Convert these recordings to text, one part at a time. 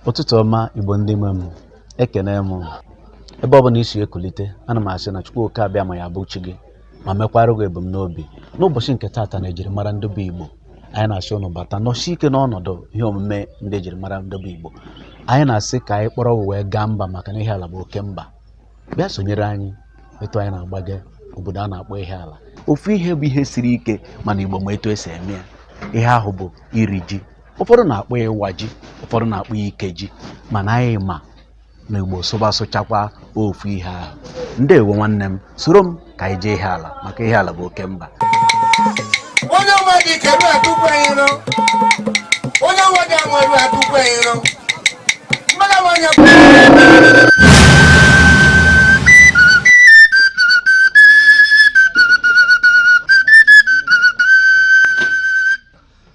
ụtụtụ ọma igbo ndị nwe m ekene m ebe ọ bụla i si ekulite ana m asị na chukwu oke abịama ya bụ chi gị ma mekwara gị ebumnobi n'ụbọchị nke taata na ejirimara ndị bụ igbo anyị na-asị ụnụ bata nọsi ike n'ọnọdụ ihe omume ndị ejirimara ndị bụ igbo anyị na-asị ka anyị kpọrọ ụwa wee gaa mba maka na ihiala bụ oke mba bịa sonyere anyị etu anyị na-agbaga obodo a na-akpọ ihiala ofu ihe bụ ihe siri ike mana igbo ma etu e si eme ya ihe ahụ bụ iri ji ụfọdụ na-akpọ ya ịwa ji ụfọdụ na-akpọ ya ikeji mana anyị ma na igbo sụba sụchakwa ofu ihe ahụ ndewo nwanne m soro m ka anyị jee ihiala maka ihiala bụ oke mba onye ọma dị ike ru atụkwa ya iro onye ọma dị anwụ eru atụkwa ya iro mmadụ nwanyị bụ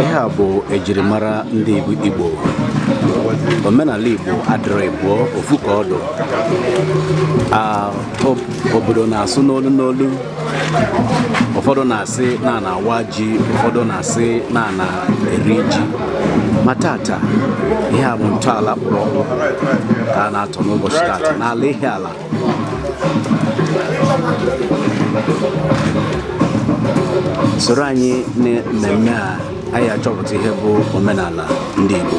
ihe a bụ ejirimara ndị Igbo omenala Igbo adịrọ ịbụọ ofu ka ọ dị obodo na-asụ n'olu n'olu ụfọdụ na-asị na a na-awa ji ụfọdụ na-asị na a na-eri ji ma tata ihe a bụ ntọala kpụrụ ọkpụ ka a na-atọ n'ụbọchị tata n'ala Ihiala soro anyị na mmemme a anyị achọpụta ihe bụ omenala ndị Igbo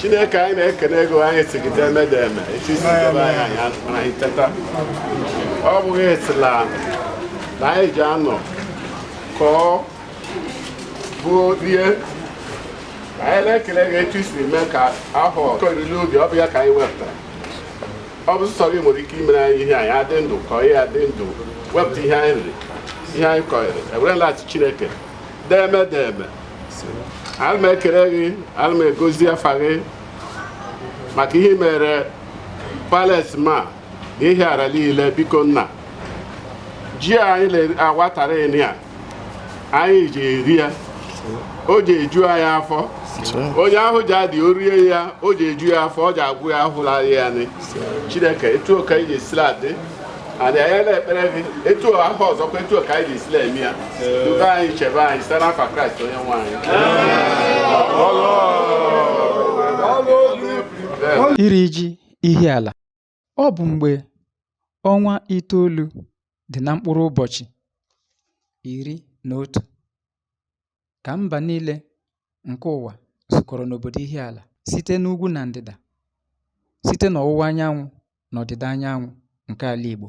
chineke anyị na-ekene gị o anyị sị gị deme deme echi si gaba anyị anyị anụmara anyị teta ọ bụghị esila na anyị ji anọ kọọ bụ rie anyị na-ekele gị etu i siri mee ka a hụ oriri ubi ọ bụ ya ka anyị wepụtara ọ bụ sọ gị nwere ike imere anyị ihe anyị adị ndụ ka anyị adị ndụ wepụta ihe anyị riri ihe anyị kọnyere ewere na-asị chineke deme deme ana m ekele gị ana m egozi afa gị maka ihe i meere palace ma na ihiala niile biko nna ji anyị na-awa tata anyị ji eri ya o ji eju anyị afọ onye ahụ ji adị o rie ya o ji eju ya afọ ọ ji agwọ ya ahụla ya nị chineke etu ọ ka anyị ji sila adị adị anyị na-ekpere gị etu ahụ ọzọkwa etu ọ ka anyị ji sila eme ya dukọọ anyị chebe anyị site n'afa kraịst onye nwe anyị iri ji ihiala Ọ bụ mgbe ọnwa itoolu dị na mkpụrụ ụbọchị iri na otu ka mba niile nke ụwa zukọrọ n'obodo Ihiala site n'ugwu na ndịda, site n'ọwụwa anyanwụ na ọdịda anyanwụ nke ala Igbo.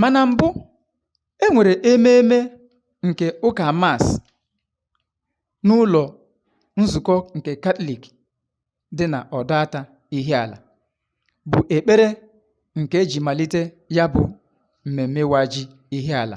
Ma na mbụ, e nwere ememe nke ụka mas n'ụlọ nzukọ nke Katọlik dị na Ọdọata Ihiala, bụ ekpere nke e ji malite ya bụ mmemme ịwa ji Ihiala.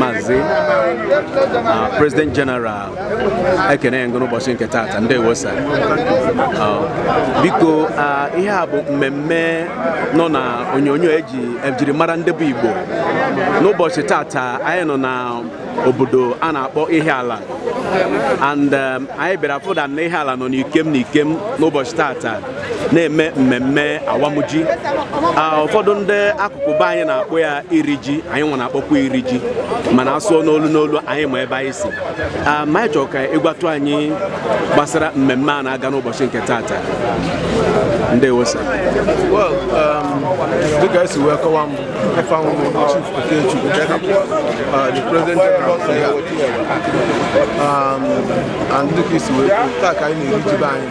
Mazi uh, President General ekenee m gị o n'ụbọchị nke taata ndewo sa uh, biko uh, ihe a bụ mmemme nọ na onyonyo eji ejiri mara ndị bụ Igbo n'ụbọchị taata anyị nọ na obodo a na-akpọ Ihiala and um, anyị bịara fụta na Ihiala nọ n'ikem n'ikem n'ụbọchị taata na-eme mmemme awam ji ụfọdụ ndị akụkụ be anyị na-akpọ ya iri ji anyị nwa na-akpọkwa iri ji mana a sụọ n'olu n'olu anyị ma ebe anyị si ma anyị chọrọ ka ị gwatụ anyị gbasara mmemme a na-aga n'ụbọchị nke taata ndewo sa um, dịka i si wee kọwa m ife ahụ Chief Okechukwu uh, the President General um, and dịka i si wee taa ka anyị na-eri ji be anyị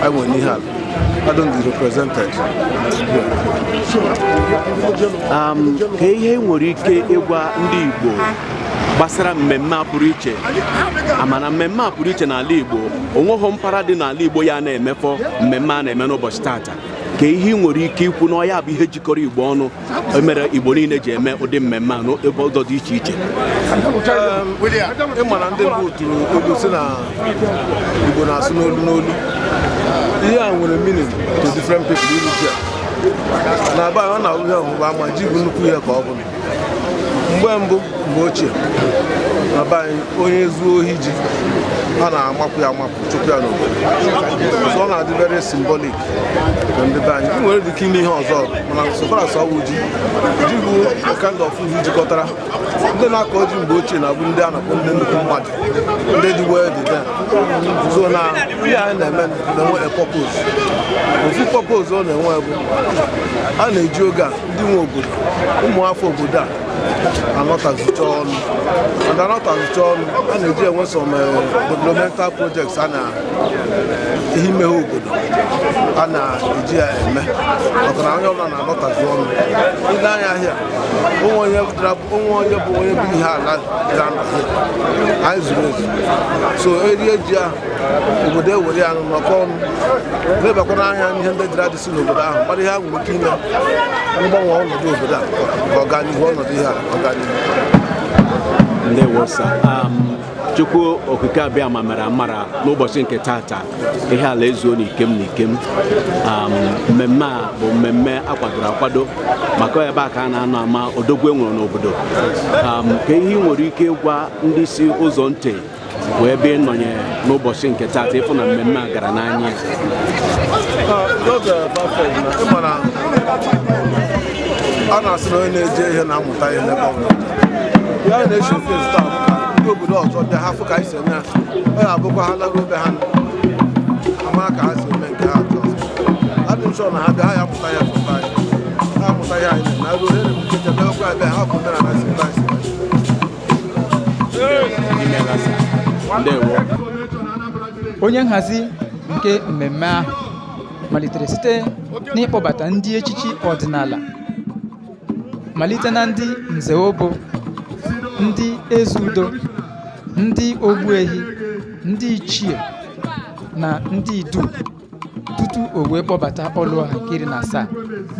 I will need help. I don't represent it. Um, kee ihe i nwere ike ịgwa ndị Igbo gbasara mmemme a pụrụ iche a ma na mmemme a pụrụ iche n'ala Igbo o nweghị mpaghara dị n'ala Igbo ya na-emefọ mmemme a na-eme n'ụbọchị taata kee ihe i nwere ike ikwu na ọ ya bụ ihe jikọrọ Igbo ọnụ e mere Igbo niile ji eme ụdị mmemme a n'ụzọ dị iche iche ị ma na ndị bụ otu egwu sị na Igbo na-asụ n'olu n'olu ihe a nwere meaning to different people iri ji na be anyị ọ na-enwe ihe ọ bụ a ma ji bụ nnukwu ihe ka ọ bụ na mgbe mbụ mgbe ochie na be anyị onye zuo ohi ji a na-amapụ ya amapụ chụpụ ya n'obodo so ọ na-adị very symbolic ndị be anyị nwere dịka ime ihe ọzọ mana so far as ọ bụ ji ji bụ kind of food jikọtara ndị na-akọ ji mgbe ochie na-abụ ndị a na-akpọ ndị nnukwu mmadụ ndị dị well dị there so na ihe anyị na-eme na-enwe a purpose ofu purpose ọ na-enwe bụ a na-eji oge a ndị nwe obodo ụmụafọ obodo a anọtazicha ọnụ and anọtazicha ọnụ a na-eji enwe some eh, developmental projects a na ihe imeghe obodo a na-eji ya eme maka na onye ọbụla na-alọtazi ọnụ ile anya ahịa onwe onye dara- onwe onye bụ onye bụ ihiala dara na ahịa anyị zuru ezu so erie ji ahụ obodo ewere ya nụ nọkọ ọnụ lebakwana anya n'ihe ndị dịra dịsị n'obodo ahụ mara ihe ha nwere ike ime mgbanwe ọnọdụ obodo a ka ọganihu ọnọdụ ihe a ọganihu ndewo sir um, chukwu okike abịama mere amara n'ụbọchị nke tata ihiala ezuo n'ikem n'ikem um, mmemme a bụ mmemme a kwadoro akwado maka ebe a ka a na-anọ ama odogwu e nwere n'obodo um, ka ihe ị nwere ike ịgwa ndị si ụzọ ntị wee bịa ịnọnye n'ụbọchị nke tata ịfụ na mmemme a gara n'anya a na-asị na onye na-eje ihe na obodo ọzọ bịa ha fụ ka anyị si eme ha ọ ya abụkwa ha laruo be ha ama ka ha si eme nke ha atọ adị m ụsọ na ha bịa ha ya mụta ya fụta anyị ha mụta ya anyị na ruo ere m nkecha bịakwa ebe ha bụ mere na si ta si onye nhazi nke mmemme ahụ malitere site n'ịkpọbata ndị echichi ọdịnala malite na ndị nze obu ndị eze udo ndị ogbuehi ndị ichie na ndị idu tutu o wee kpọbata ọlụọha nke iri na asaa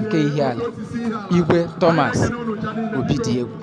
nke ihiala igwe thomas obidiegwu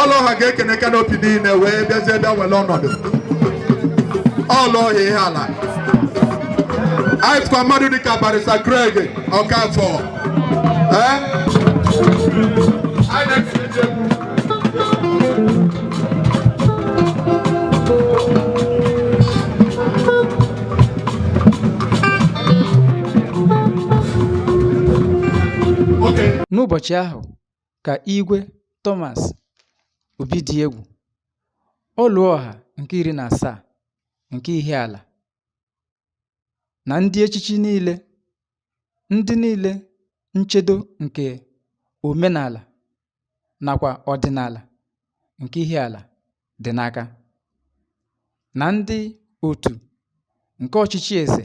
ọlụọha ga-ekene canopy niile wee bịazie bịa were ọnọdụ ọlụọha ihiala anyị fụkwa mmadụ dịka barrister Craig Ọkafọ ee anyị na-ekele ndị egwu Okay. n'ụbọchị ahụ ka Igwe Thomas Obidiegwu, Ọlụọha nke iri na asaa nke Ihiala, na ndị echichi niile, ndị niile nchedo nke omenala nakwa ọdịnala nke Ihiala dị n'aka, na ndị otu nke ọchịchị eze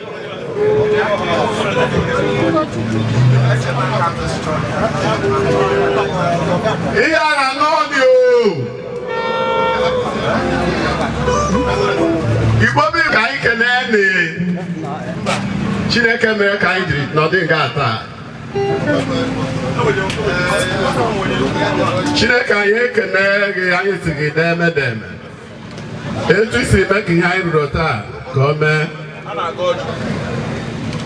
ihe a na n'ọdị igbo bi ka anyị kelee na chineke mere ka anyị dịrị nọdị nga taa chineke anyị ekene gị anyị sị gị deeme deeme etu i siri mee ka ihe anyị rụrụ taa ka o mee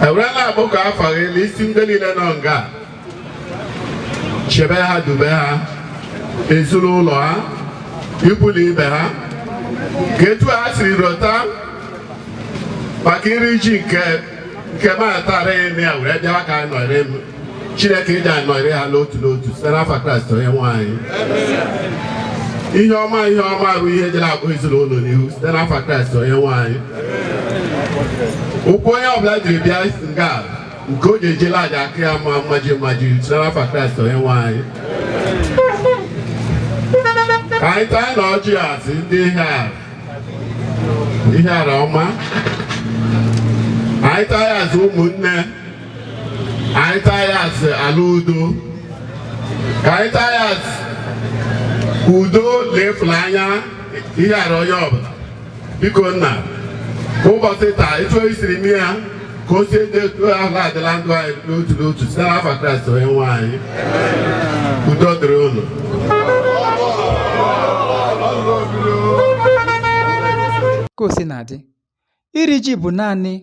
ewerela abụ ka afa gị na isi ndị niile nọ nga chebe ha dube ha ezinụlọ ha ikwu na ibe ha ka etu ha siri rụta maka iri ji nke nke m atara eme ya were bịawa ka anyị nọrị m chineke ịdị anyị nọrị ha n'otu n'otu site n'afa Kraịst onye nwe anyị ihe ọma ihe ọma bụ ihe jere akpọ ezinụlọ n'ihu site n'afa Kraịst onye nwe anyị ụkwụ onye ọbụla jiri bịa nga nke o ji eje ala ja-aka ya mma mmaji mmaji site n'afa Kraịst onye nwe anyị ka anyị taa na ọjị asị ndị ihe a Ihiala ọma anyị taa ya azụ ụmụnne anyị taa ya azụ ala udo ka anyị taa ya azụ udo na ịfụlanya Ihiala onye ọbụla biko nna ụbọchị taa etu o siri mee ya ka o sie dị etu ahụ adị na ndụ anyị n'otu n'otu site n'afa Kraịst onye nwe anyị udo dịrị unu ka o si na-adị iri ji bụ naanị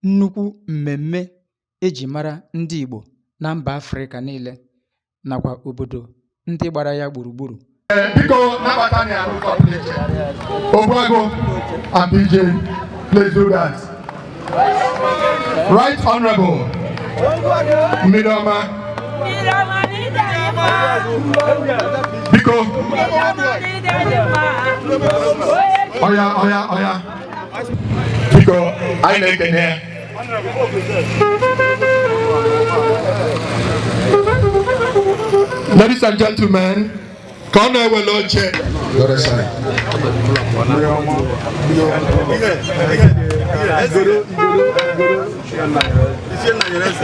nnukwu mmemme eji mara ndị Igbo na mba Afrịka niile nakwa obodo ndị gbara ya gburugburu biko nabata na arụ kọpụlechị Ogbuagu and bj please do that right honorable mmiri ọma biko ọya ọya ọya biko anyị na-ekene ya Ladies and gentlemen, ka ọ na-ewele oche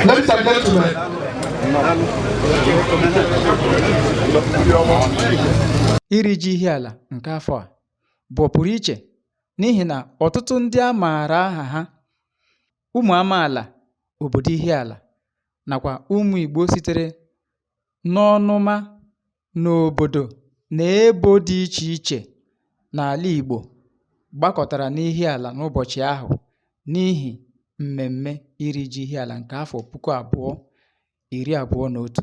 Ladies and gentlemen, iri ji Ihiala nke afọ a bụ ọpụrụ iche n'ihi na ọtụtụ ndị a maara aha ha ụmụ amaala obodo Ihiala nakwa ụmụ Igbo sitere n'ọnụma n'obodo na ebo dị iche iche n'ala Igbo gbakọtara n'Ihiala n'ụbọchị ahụ n'ihi mmemme iri ji Ihiala nke afọ puku abụọ iri abụọ na otu.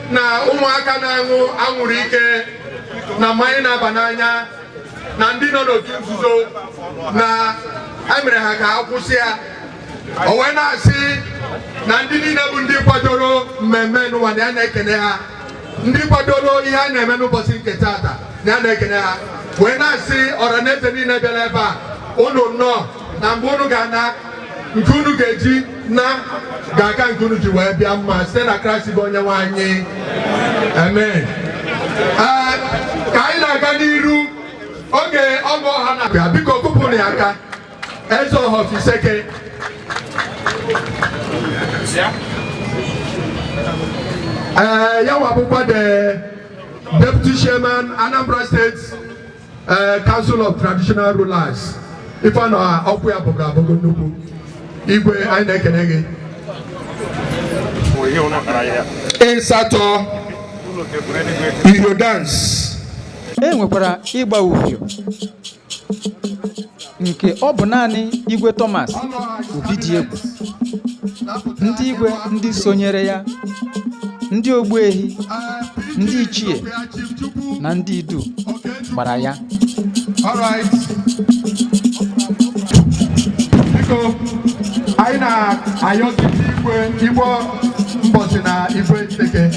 na ụmụaka na-aṅụ anwụrụ ike na mmanya na-aba n'anya na ndị nọ n'otu nzuzo na emere ha ka ha kwụsị ya o wee na-asị na ndị niile bụ ndị kwadoro mmemme nụwa na ya na-ekene ha ndị kwadoro ihe a na-eme n'ụbọchị nke taata na ya na-ekene ha wee na-asị ọra na eze niile bịara ebe a unu nnọọ na mgbe unu ga-ana nke unu ga-eji naa ga-aka nke unu ji wee bịa mma site na Kraịst bụ Onyenwe anyị amen ee ka anyị na-aga n'iru oge ọgụ ọha na-abịa biko kụpụrụ ya aka Ezeọha of Isseke ee ya nwa bụkwa the deputy chairman Anambra State ee eh, Council of Traditional Rulers ife a na ọkụ ya bụgara abụgo nnukwu igwe anyị na-ekene gị ịsatọ iyo dance e nwekwara ịgba uhie nke ọ bụ naanị igwe Thomas Obidiegwu ndị igwe ndị sonyere ya ndị ogbuehi ndị ichie na ndị idu gbara ya All right. Biko, anyị na-ayọzi igwe igbo Mbosi na igwe nteke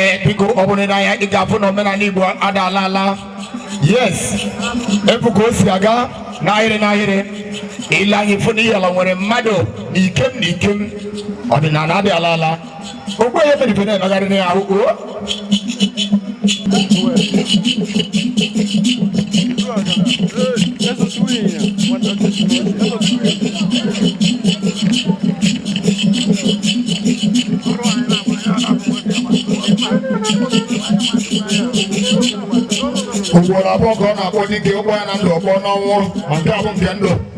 ee biko ọ bụrụ na i nee anya ị ga-afụ na omenala Igbo ada ala ala yes ị fụ ka o si aga n'ahịrị n'ahịrị i lee anya ị fụ na Ihiala nwere mmadụ na ikem na ikem ọdịnala adị ala ala Okwu onye fedebe na-emegharị na ya ahụ o. Ugboro abụọ ka a na-akpọ dike ụgbọ ya na ndụ ọkpọ n'ọnwụ ma nke a bụ nke ndụ.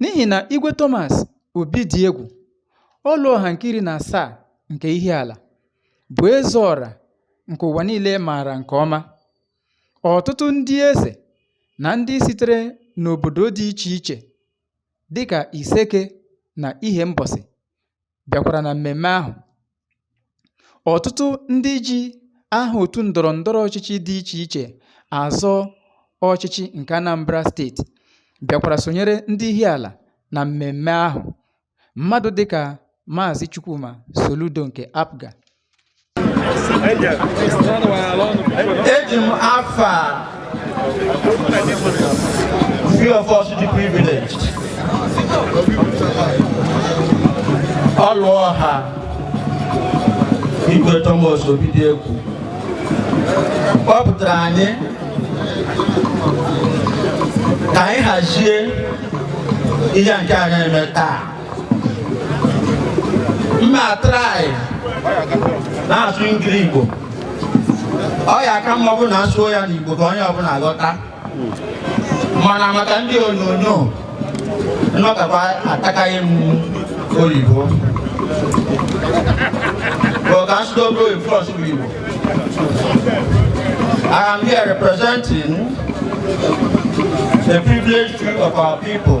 N'ihi na Igwe Thomas Obidiegwu, Ọlụọha nke iri na asaa nke Ihiala, bụ eze ọra nke ụwa niile maara nke ọma. Ọtụtụ ndị eze na ndị sitere n'obodo dị iche iche dịka Iseke na Ihembọsị bịakwara na mmemme ahụ. Ọtụtụ ndị ji aha otu ndọrọ ndọrọ ọchịchị dị iche iche azọ ọchịchị nke Anambra steeti bịakwara sonyere ndị Ihiala na mmemme ahụ. Mmadụ dịka Maazị Chukwuma Soludo nke APGA eji m afa few of us dị privileged Ọlụọha Igwe Thomas Obidiegwu kpọpụtara anyị ka anyị hazie ihe nke a na-eme taa m ma try na-asụ Engli-Igbo ọ ya aka mma bụ na a sụọ ya n'Igbo ka onye ọbụla ghọta mana maka ndị onyonyo nnọkọta atakaghị m oyibo bụ ka asụsụ obi oyibo ọsụ bụ Igbo I am here representing the privileged few of our people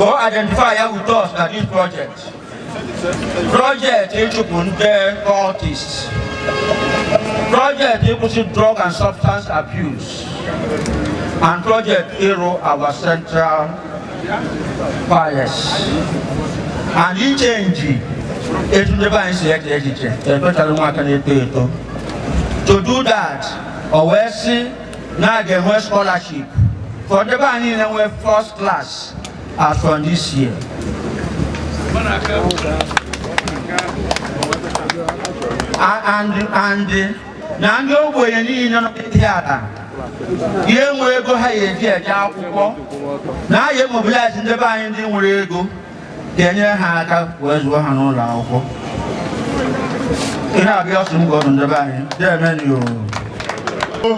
O identify ya with us na this project. Project ịchụpụ ndị cultists. Project ịkwụsị drug and substance abuse. And project ịrụ our central palace. And ichenji etu ndị be anyị si eche echiche especially ụmụaka na-eto eto. To do that, o wee sị na a ga-enwe scholarship for ndị be anyị niile nwee first class as from this year. A- and and na ndị ogbenye niile nọ n'Ihiala ya enwe ego ha ya eji eje akwụkwọ na a ya emobilize ndị be anyị ndị nwere ego ga-enyere ha aka wee zụọ ha n'ụlọ akwụkwọ ihe abịa ọsụ m gọdụ ndị be anyị deemenụ o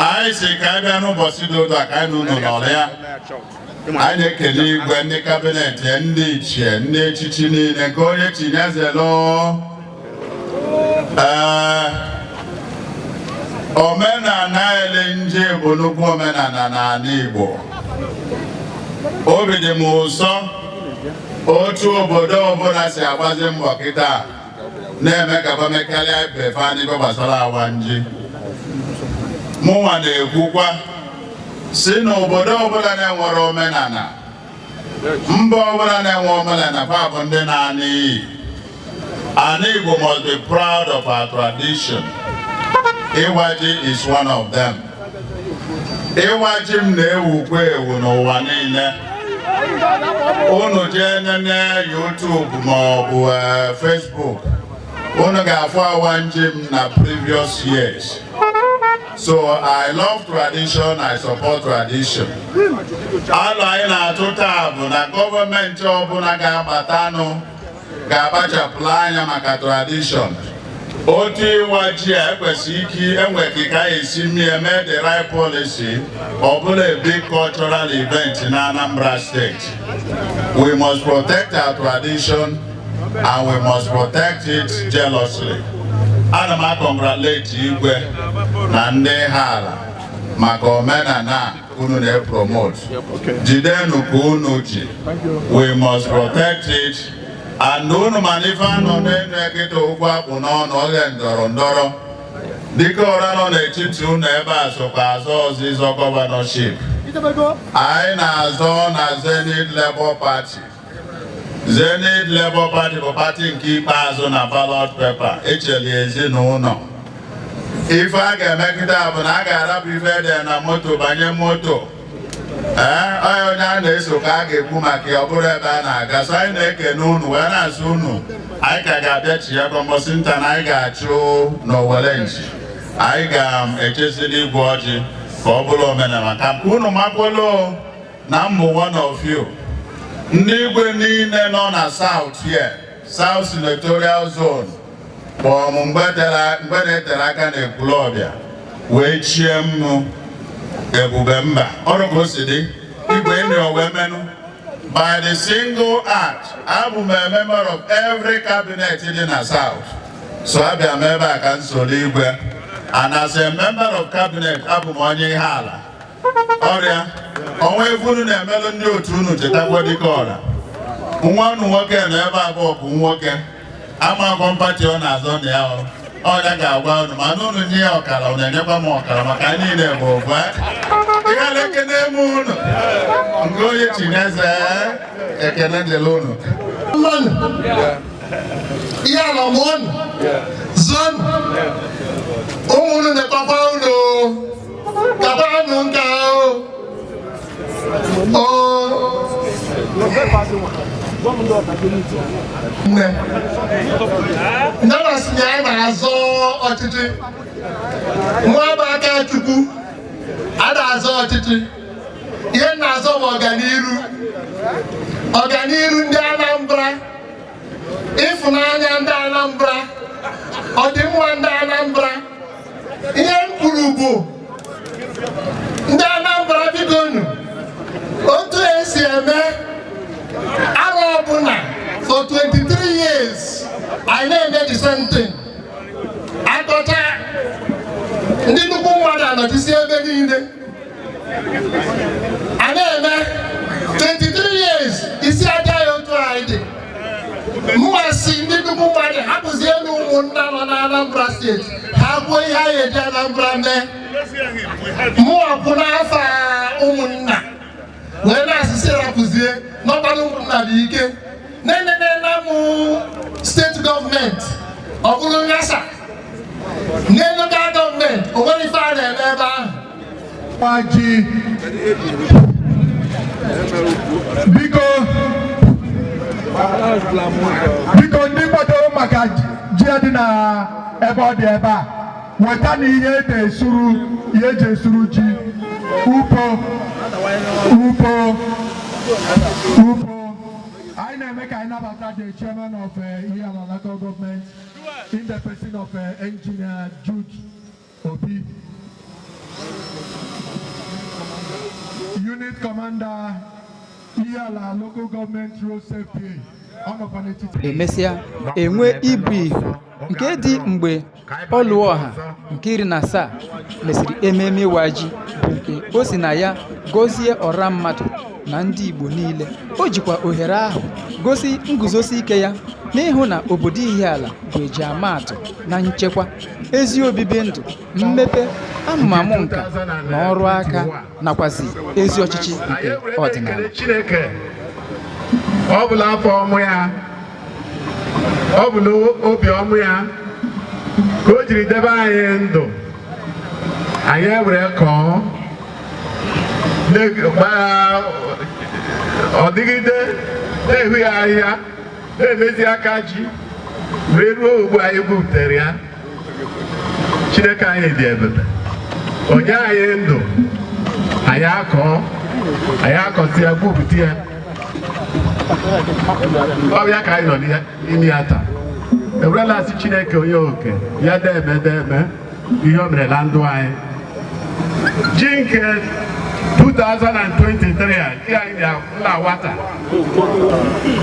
anyị si ka anyị bịa n'ụbọchị dị taa ka anyị n'ụlọ n'ọrụ ya anyị na-ekele igwe ndị kabinet ndị ichie ndị echichi niile nke onye chi nya zelo ee omenala eli nji bụ nnukwu omenala n'ala Igbo obi dị m ụsọ otu obodo ọbụla si agbazi mbọ kịta na-eme ka fa mekarịa ibe fa dịka ọ gbasara awa nji mụnwa na-ekwukwa sị na obodo ọbụla na-enwere omenala mba ọbụla na-enwe omenala fa but ndị n'ana anyị ana Igbo must be proud of our tradition ịwa ji is one of them ịwa ji m na-ewukwa ewu n'ụwa niile unu jee nene YouTube ma ọ bụ eh, Facebook unu ga-afụ awa nji m na previous years So I love tradition, I support tradition. Alo anyị na-atụ taa bụ na gọọmenti ọbụla ga-abatanụ ga-akpachapụla anya maka tradition. Otu ịwa ji a ekwesị ike enwe ka ka esi mie mee the right policy ọ bụrụ a big cultural event na Anambra State. We must protect our tradition and we must protect it jealously. Ana m akọngratulate igwe na ndị Ihiala maka omenala unu na-epromote. Jidenụ ka unu ji. We must protect it. And unu ma na ife a nọ na-eme kịta okwu a kpụ n'ọnụ oge ndọrọ ndọrọ. Dikeọra nọ n'etiti unu ebe a sokwa azọ ọzịzọ gọvanọship. Anyị na-azọ na Zenith Labour Party. Zenith Labour Party bụ pati nke ikpeazụ na ballot paper e seli ezinụlọ ife a ga-eme kịta bụ na a ga-arapụ ife e de na moto banye moto ee onye onye a na-eso ka a ga-ekwu maka ya ọ bụrụ ebe a na-aga so anyị na-ekene unu wee na-asị unu anyị ka ga-abịa chi ya kọ mbọsị nta na anyị ga-achụ n'owere nchi anyị ga-echezili igwe ọjị ka ọ bụrụ omenala ka unu makwolo na m bụ one of you ndị igwe niile nọ na South here South Senatorial Zone kpọọ m mgbe na-eterọ aka na Ekwulọbịa wee chie m nụ ebube mba ọrụ ka o si dị igwe ndị wee menụ by the single act abụ m a member of every cabinet dị na South so abịa m ebe a ka m soro igwe and as a member of cabinet abụ m onye Ihiala ọrịa ọnwa ife unu na-emelụ ndị otu unu chetakwa dịka ọra nwa unu nwoke na ebe abụọ bụ nwoke amakwa m party ọ na-azọ na ya Ọlụọha ga-agwa unu mana unu nye ya ọkara unu enyekwa m ọkara maka anyị niile bụ ofu Ihiala ekene m unu nke onye chineze ekene dịrị unu Ihiala mụọnụ zụọnụ ụmụ unu na-ekpakwa unu kabanụ nke ahụ nne nana si na ya na-azọ ọchịchị mụwa bụ Akachukwu ada azọ ọchịchị ihe m na-azọ bụ ọganiru ọganiru ndị Anambra ịfụnanya ndị Anambra ọdịmma ndị Anambra ihe m kwuru bụ ndị Anambra bikonụ otu esi eme arọ ọbụla for 23 years anyị na-eme the same thing akọcha ndị nnukwu mmadụ anọchisi ebe niile a na-eme 23 years isi aja ya otu anyị dị mụwa sị ndị nnukwu mmadụ hapụzienụ ụmụnna nọ na Anambra state ha kwuo ihe anyị eji Anambra mee mụwa kwụ n'afa ụmụnna wee na-asị sị rapụzie n'ọkpara ụmụnna dị ike na-enenela m state government o buru ghasaa na local government o nwere ife a na-eme ebe ahụ gbaji biko biko ndị kwado maka ji dị na ebe ọ dị ebe a weta na ihe eji esuru ihe eji esuru ji upo upo upo anyị na-eme ka anyị nabata the chairman of eh, Ihiala local government in the person of eh, engineer Jude Obi unit commander Ihiala local government road safety ọ nọkwa n'etiti emesịa enwe ibu ihu nke dị mgbe Ọlụọha nke iri na asaa mesịrị ememe ịwa ji bụ nke o si na ya gọzie ọra mmadụ na ndị Igbo niile. O jikwa ohere ahụ gosi nguzosi ike ya n'ịhụ na obodo Ihiala bụ ejiamaatụ na nchekwa, ezi obibi ndụ, mmepe, amụmamụ nka na ọrụ aka. nakwazi ezi ọchịchị nke ọdịnala Chineke ọ bụ n'afọ ọma ya ọ bụ n'obi ọma ya ka o jiri debe anyị ndụ anyị ewere kọọ ọ dịgide na-ehu ya ahịhịa na-emezi aka ji wee ruo ugbu a anyị gwupụtara ya Chineke anyị dị ebube o nye anyị ndụ anyị akọọ anyị akọsi ya gwupụta ya ọ ya ka anyị nọ n'ime ya taa ewere na-asị Chineke onye oke ya deme deme ihe o mere na ndụ anyị ji nke 2023 a nke anyị na-awa taa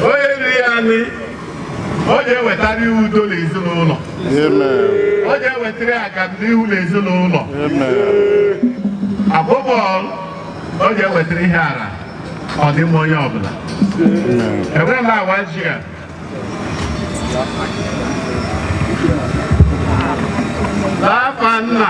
onye riri ya ọ ga-ewetara ya udo n'ezinụlọ ọ ga-ewetara ya agamnihu n'ezinụlọ abụbọl ọ ga-ewetara Ihiala ọdịmma onye ọbụla ewere m awa ji a n'afa nna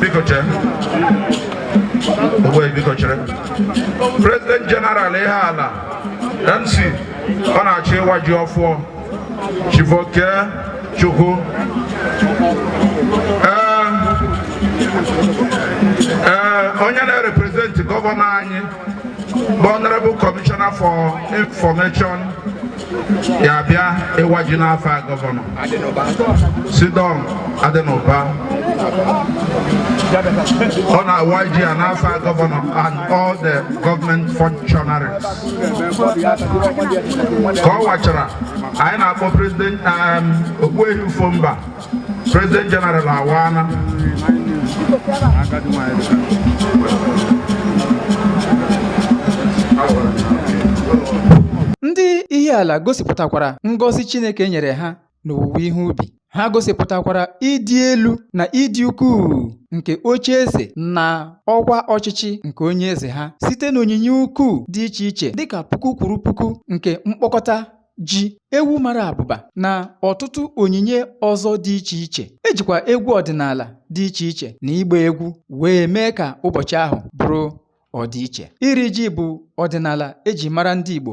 biko chere ogbe biko chere president general Ihiala mc ọ na-achọ ịwa ji ọfụọ Chief Okechukwu ee ee onye na-representi gọvanọ anyị bụ honorable commissioner for information ya bịa ịwa ji n'afa gọvanọ C Don Adinuba ọ na-awa ji a n'afa gọvanọ and all the government functionaries ka ọ wachara anyị na-akpọ prezident um, Ogbuehi Ufomba prezident jeneral awana ndị Ihiala gosipụtakwara ngọzi chineke nyere ha n'owuwe ihe ubi. Ha gosipụtakwara ịdị elu na ịdị ukwuu nke oche eze na ọkwa ọchịchị nke onye eze ha site n'onyinye ukwuu dị iche iche dịka puku kwuru puku nke mkpọkọta ji ewu mara abụba na ọtụtụ onyinye ọzọ dị iche iche ejikwa egwu ọdịnala dị iche iche na ịgba egwu wee mee ka ụbọchị ahụ bụrụ ọdịiche iri ji bụ ọdịnala eji mara ndị Igbo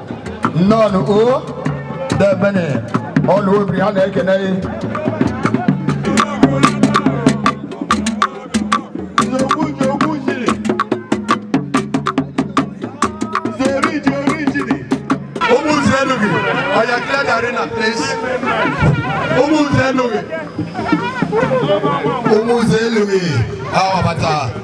nnọọ nụ o debene ọnụ obi ha na-ekene gị Umuze Louis, Awabata.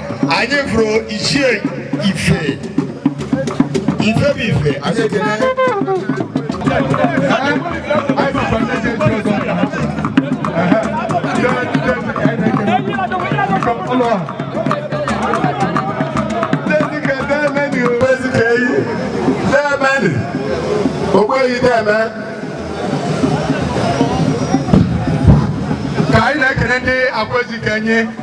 anyị fụrụ ichie ife ife bụ ife anyị ekele ogbeghị deme ka anyị na-ekele ndị Akwa Ezikenyi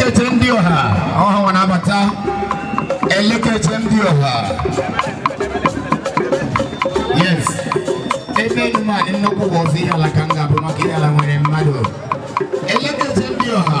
Elekere ndị ọha ọha na-abata elekere ndị ọha yes ebe nma nnukwu bụ ọzọ Ihiala ka m ga-ebi maka Ihiala nwere mmadụ elekere ndị ọha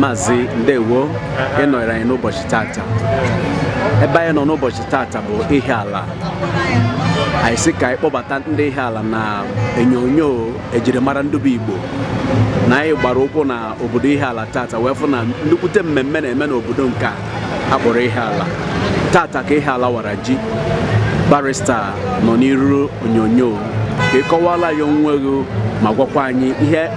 Maazị ndewo ịnọnyere anyị n'ụbọchị tata ebe anyị nọ n'ụbọchị tata bụ Ihiala anyị sị ka anyị kpọbata ndị Ihiala na onyonyo ejirimara ndị bụ Igbo na anyị gbara ụkwụ na obodo Ihiala tata wee fụ na nnukwute mmemme na-eme n'obodo nke a a kpọrọ Ihiala tata ka Ihiala wara ji barista nọ n'iru onyonyo ka ị kọwaara anyị onwe gị ma gwakwa anyị ihe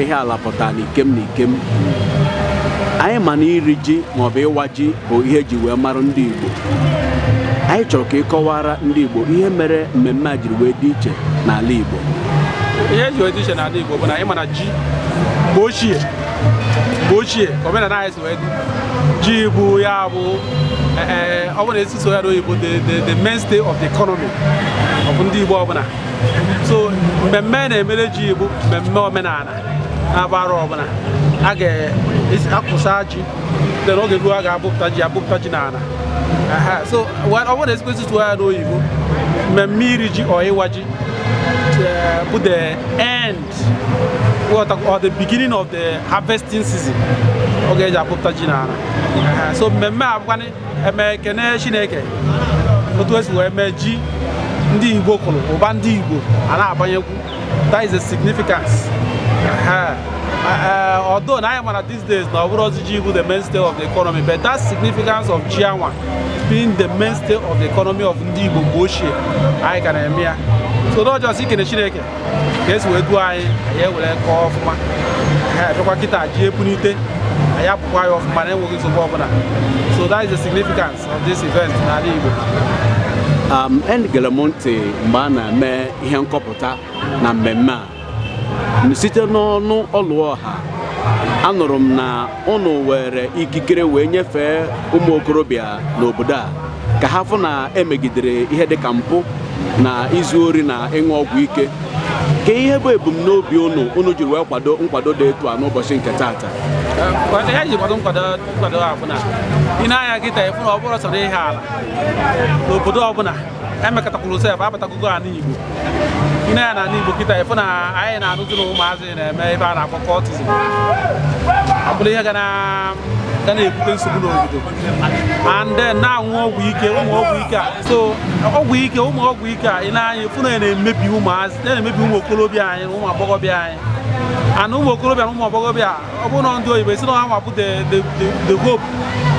Ihiala pụtara n'ikem na ikem anyị ma na iri ji maọbụ ịwa ji bụ ihe eji wee mara ndị Igbo anyị chọrọ ka ịkọwara ndị Igbo ihe mere mmemme a jiri wee dị iche n'ala Igbo ihe eji wee dị iche n'ala Igbo bụ na ị ma na ji mgbe ochie mgbe ochie ka omenala anyị si wee dị ji bụ ya bụ eh, eh, ọ bụrụ na a sị sụọ ya n'oyibo the mainstay of the economy of ndị Igbo ọbụla so mmemme a na-emere ji bụ mmemme omenala a na-agba arọ ọbụla a ga-akọsịa ji dị n'oge ruo a ga-abụpụta ji abụpụta ji n'ala so ọ bụrụ na a sịkwa sụọ ya n'oyibo mmemme iri ji or ịwa ji eh, bụ the end or the beginning of the harvesting season oge eji abụpụta ji n'ala so mmemme a bụkwanị eme ekene chineke otu esi wee mee ji ndị igbo kụrụ ụba ndị igbo a na-abanyekwu that is a significance although na anyị ma na these days na ọ bụrọzi ji bụ the mainstay of the economy but that significance of ji anwa being the mainstay of the economy of ndị igbo mgbe ochie anyị ka na-eme ya so n'ọjọọ si ikene chineke ka esi wee duo anyị anyị ewere kọọ ọfụma ha abịakwa kịta ji epunite anyị apụkwa ya ọfụma na enweghị nsogbu ọbụla so that is the significance of this event n'ala Igbo um, egere m ntị mgbe a na-eme ihe nkọpụta na mmemme a site n'ọnụ Ọlụọha anụrụ m na ụnụ were ikikere wee nyefee ụmụ okorobịa n'obodo a ka ha fụ na emegidere ihe dịka mpụ na izu ori na ịṅụ ọgwụ ike kee ihe bụ ebumnobi ụnụ ụnụ jiri wee kwado nkwado dị etu a n'ụbọchị nke taata ihe anyị ji kwado nkwado a bụ na i nee anya kịta ị fụ na ọ bụrọ sọọ Ihiala n'obodo ọbụla emekọtakwuru sef abatagogo ala Igbo i nee anya na ala Igbo kịta ị fụ na anyị na-anụzi na ụmụazị na-eme ife a na-akpọ cultism ọ bụrụ ihe ga na ga na-ebute nsogbu n'obodo and then na-aṅụ ọgwụ ike ụmụ ọgwụ ike a so ọgwụ ike ụmụ ọgwụ ike a i nee anya fụ na ya na-emebi ụmụazị na-emebi ụmụ okorobịa anyị na ụmụ agbọghọbịa anyị ana ụmụ okorobịa na ụmụ agbọghọbịa ọ bụ ndị oyibo sị na ha nwa bụ the the the hope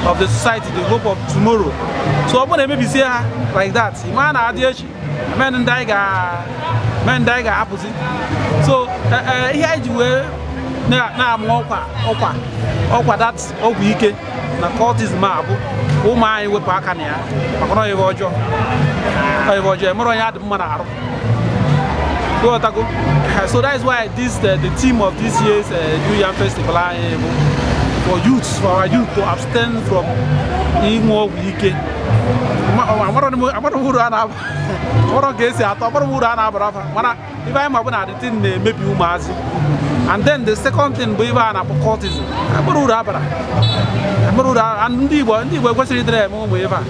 of the society the hope of tomorrow so ọ bụrụ na emebisie ha like that ị ma na adị echi men ndị anyị ga men ndị anyị ga-ahapụzi so e, e, ihe anyị ji wee na-amụ ọkwa ọkwa ọkwa that ọgwụ ike na cultism a bụ ụmụ anyị wepụ aka na ya maka na ọ ihe ọjọọ ọ ihe ọjọọ emere onye adị mma na arụ Otago. So that is why this uh, the theme of this year's uh, New Yam Festival uh, for youths, for our youth to abstain from ịṅụ ọgwụ ike. Amarọ m uru ọ na-aba, amarọ ka o si atọ, amarọ m uru ọ na-abara fa, mana ife anyị ma bụ na the thing na-emebi ụmụazị. And then the second thing bụ ife a na-akpọ cultism, amarọ uru ọ bara. Amarọ uru ndị Igbo ndị Igbo ekwesirọ ịdịrị eme ụmụ ife a.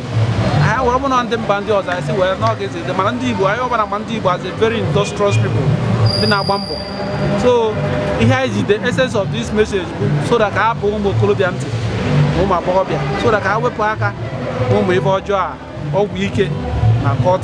Anyị were mụ na ndị mba ndị ọzọ anyị si were n'oge mana ndị Igbo anyị bụ na a ma ndị Igbo as a very industrious people ndị na-agba mbọ so ihe anyị ji the essence of this message bụ so that ka a bụ ụmụ okorobịa ntị na ụmụ agbọghọbịa so that ka ha wepụ aka ụmụ ife ọjọọ a ọgwụ ike na cult